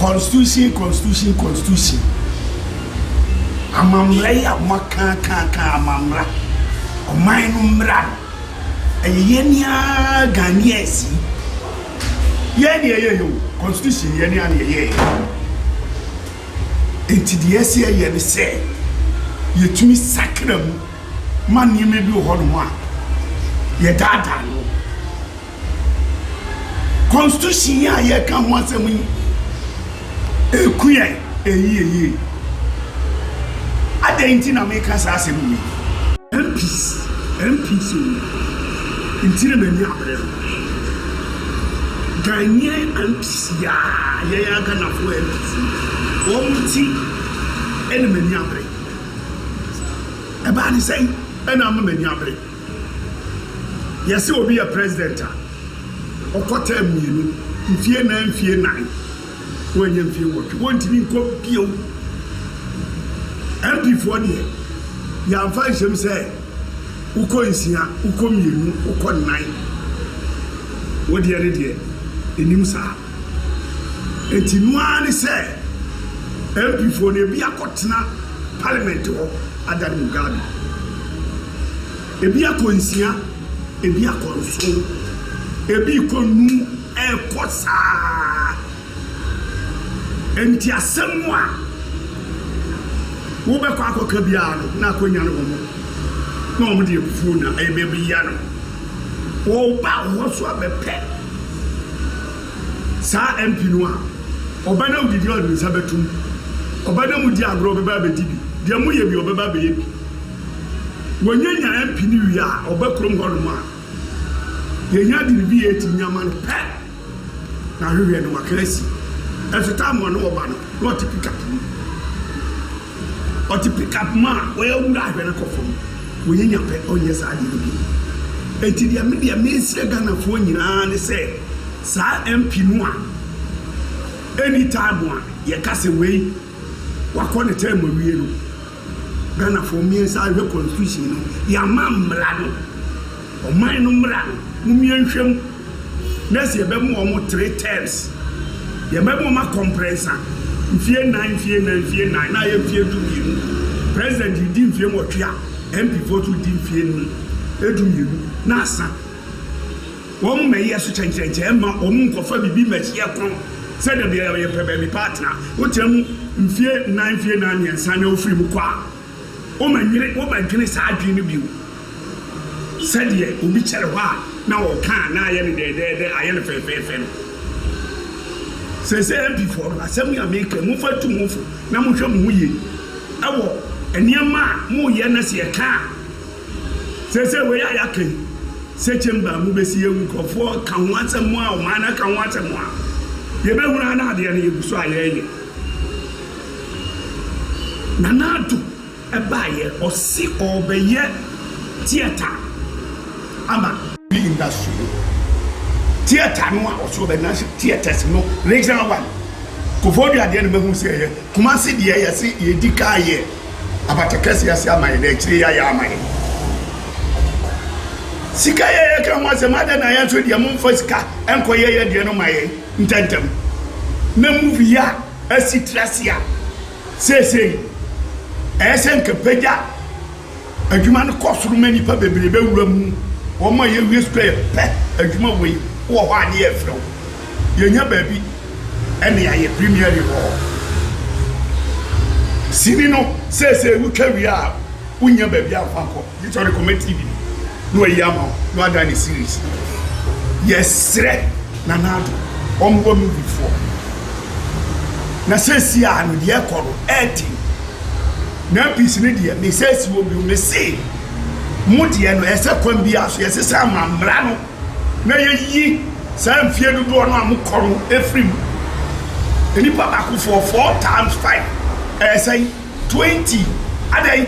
Constitution Constitution Constitution Amammara yi a wɔakaakaaka amammara, ɔman no mmara no, ɛyɛ yɛn ara Ghanaians yi, yɛn na yɛyɛeɛ o, Constitution yɛn ara na yɛyɛeɛ. Enti deɛ ɛsɛ sɛ yɛyɛ ne sɛ, yɛtumi sakra mu ma nneɛma bi wɔ hɔnom a, yɛdaadaa no. Constitution yi a yɛreka ho asɛm yi, ɛku yɛn yie yie. Adɛn nti na meka saa asɛm yi? MPs, MPs o, nti na m'ani abere no. Ghanaian MPs yi a, yɛn ara Ghanafoɔ MPs yi, wɔn nti na m'ani abere. Ɛbaa ne sɛn na ama m'ani abere? Yɛse obi yɛ president a, ɔkɔ term mmienu, mfie nan mfie nnan, wanyɛ mfie nwɔtwe, wɔntumi nkɔ bio. MP foɔ deɛ, yɛamfa nhyɛm sɛ wokɔ nsia, wokɔ mmienu, wokɔ nnan. Wodeɛ no deɛ, ɛnim saa. Enti no ara ne sɛ MPfoɔ no ebi akɔtena Parliament hɔ adan Mugabe. Ebi akɔ nsia, ebi akɔ nson, ebi rekɔ nnum, ɛrekɔ saa. Enti asɛm a wobɛkɔ akɔka biara no, na akonnwa no wɔ hɔ, na wɔde abufuo na ɛrebɛbia no. Ɔba hɔ so a bɛpɛ saa MP no a, ɔba na odidi a ɔde ne nsa bɛto mu, ɔba na mudi agorɔ ɔbɛba abɛdi bi, deɛ moyɛ bia ɔbɛba abɛyɛ bi. Wɔnyanya MP no wie a, ɔba kurom hɔ nom a, deɛ ɛhia de ne bi yɛ ti nyama no pɛ. Na hwehwɛ no waka asi. Ɛso taa mmoa no wɔba no na ɔte pickup mu. Ɔte pickup mu a ɔyɛ awura ahwɛ no kɔ fam. Wɔnyɛ nya pɛ ɔnyɛ saa adeɛ no bio. Enti deɛ me deɛ mesrɛ Ghanafoɔ nyinaa ne sɛ saa MP no a any time a yɛka sɛ wei wakɔ ne term awie no. Ghanafoɔ mmiɛnsa rehwɛ constitution no yɛama mmra no ɔman no mmra no momie nhwɛ mu na sɛ yɛbɛma wɔn mo three terms yɛbɛma wɔn akɔ mprɛnsa mfie nnan mfie nnan mfie nnan na ayɛ mfie du mmienu president redi mfie nwɔtwe a MP foɔ nso redi mfie num edu mmienu na asa. Wɔmmɛyɛ so kyɛnkyerɛnkyɛn mma wɔnnkɔfa biribi mmɛhyɛ kɔn sɛ da biara yɛpɛ baabi pa atena. Wotena mu mfeɛ nnan, mfeɛ nnan, mmiɛnsa na wofiri mu kɔ a, wommɛnwene, wommɛdwene saa adwene no bio sɛdeɛ obi kyɛre hɔ a na ɔka a na ayɛ no dɛɛdɛɛdɛ, ayɛ no fɛɛfɛɛfɛ no. Seesei MPfoɔ no, asɛm yi a mereka yi, momfa ntu mo ho fo na monhwɛ mo ho yie wɔ nneɛma a moreyɛ na sɛ yɛka a, Seesei wei a yɛaka yi, sɛ chamber a mobɛsi yɛ nkurɔfoɔ ka ho asɛm a, ɔman no aka ho asɛm a, yɛbɛhunu ara na adeɛ no yɛgu so a yɛreyɛ. Nana Addo baeɛ, ɔse ɔrebɛyɛ theatre ama. Movie industry no, theatre no a ɔse ɔbɛyɛ national theatres no, regional one, Koforidua deɛ na mahunu sɛ ɛyɛ, Kumasi deɛ yɛse yɛdi kan yɛ. abata kɛse ase ama yɛn, na akyiri yi ayɛ ama yɛn. Sika yɛ yɛka ho asɛm, adɛn na yɛn nso deɛ momfa sika nkɔ yɛ yɛ deɛ no ma yɛn ntɛntɛm. Na movie yi a asi tiri ase a seesei ɛyɛ sɛ nka pagya adwuma no kɔ soro ma nnipa bebree bɛwura mu, wɔn a yɛwie sukuu a yɛpɛ adwuma wei wɔ hɔ a ne yɛrefrɛ wo. yɛnya baabi ne ayɛ Premier League hɔ. Sini no seesei wotwa wie a wonnya baabi amfa nkɔ gye sɛ wode kɔma TV no na wayi ama wo na wadan ne series. Yɛsrɛ Nana Addo ɔmmoa movie foɔ na seesei a no deɛ ɛkɔ no ɛɛden na MPs no deɛ mesɛsi wɔ bio mese mo deɛ no ɛsɛ kwan biara so yɛsesa ama mmara no na yɛyi saa mfeɛ dodoɔ no a mokɔ no firi mu. Nnipa baakofoɔ four times five ɛyɛ sɛn? Twenty. Adɛn?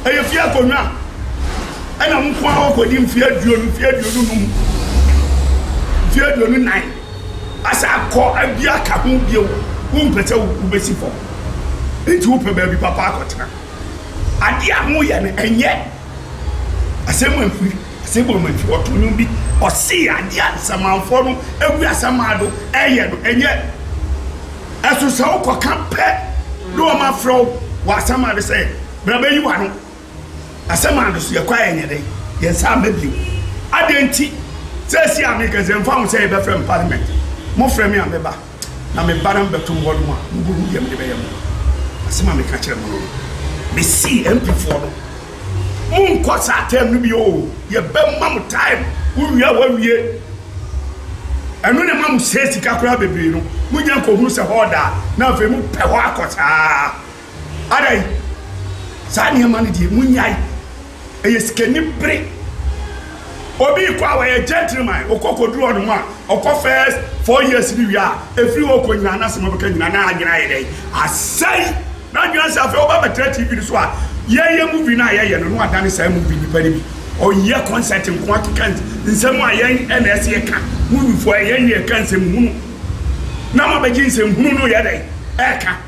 Ɛyɛ fie akonnwa. Ɛna mo nko ara wɔkɔdi mfeɛ aduonu, mfeɛ aduonu num, mfeɛ aduonu nan, asa akɔ abi aka ho bio. Wompɛ sɛ wobɛsi fam, nti wopɛ baabi papa akɔtena. Adeɛ a moyɛ no, ɛnyɛ. Asɛm amfiri, asɛm bɔ mu amfiri. Ɔto nnwom bi, ɔse adeɛ a samanfoɔ no agu asaman do ɛyɛ no, ɛnyɛ. Ɛso sɛ wokɔka pɛ na wɔn afrɛ wo wɔ asaman do sɛ, bra bɛyi w'ano. Asaman do so yɛkɔ a yɛnyɛ dɛn? Yɛn nsa amma bio. Adɛn nti? Seesei a meka sɛ ɛmfa ho sɛ yɛbɛfrɛ me parliament, mofrɛ me a mɛba. Na me ba no mbɛto mo hɔnom a, mubohu dza mede bɛyɛ mo. Asɛm a mekã kyerɛɛ mo no, mesee MPfoɔ no, Monnkɔ saa term no bio o, yɛbɛma mo time, wowie a woawie. Ɛno na ɛma mosɛɛ sika koraa bebree no, monnya nkɔhunu sɛ hɔ ɔda a, na afei mopɛ hɔ akɔ saa. Adɛn? Saa nneɛma no deɛ, monyae. Ɛyɛ sikani bere. Obi rekɔ a, ɔyɛ gentleman. Ɔkɔ kɔduru ɔno a, ɔkɔ first four years no wie a, ɛfiri hɔ rekɔ nyinaa, n'asɛm a ɔbɛka nyinaa, na adwene ayɛ dɛn? Asɛe. N'adwene asɛe. Afei ɔba abɛtra TV no so a, yɛreyɛ movie no a yɛyɛ no, na wadane saa movie nipa no bi. Ɔyɛ concert nko ara keka nsɛm a yɛn na ɛsɛ yɛka. Moviefoɔ, ɛyɛ yɛn na yɛka nsɛmhunu, na moabɛgye nsɛmhunu no reyɛ dɛn? Reka.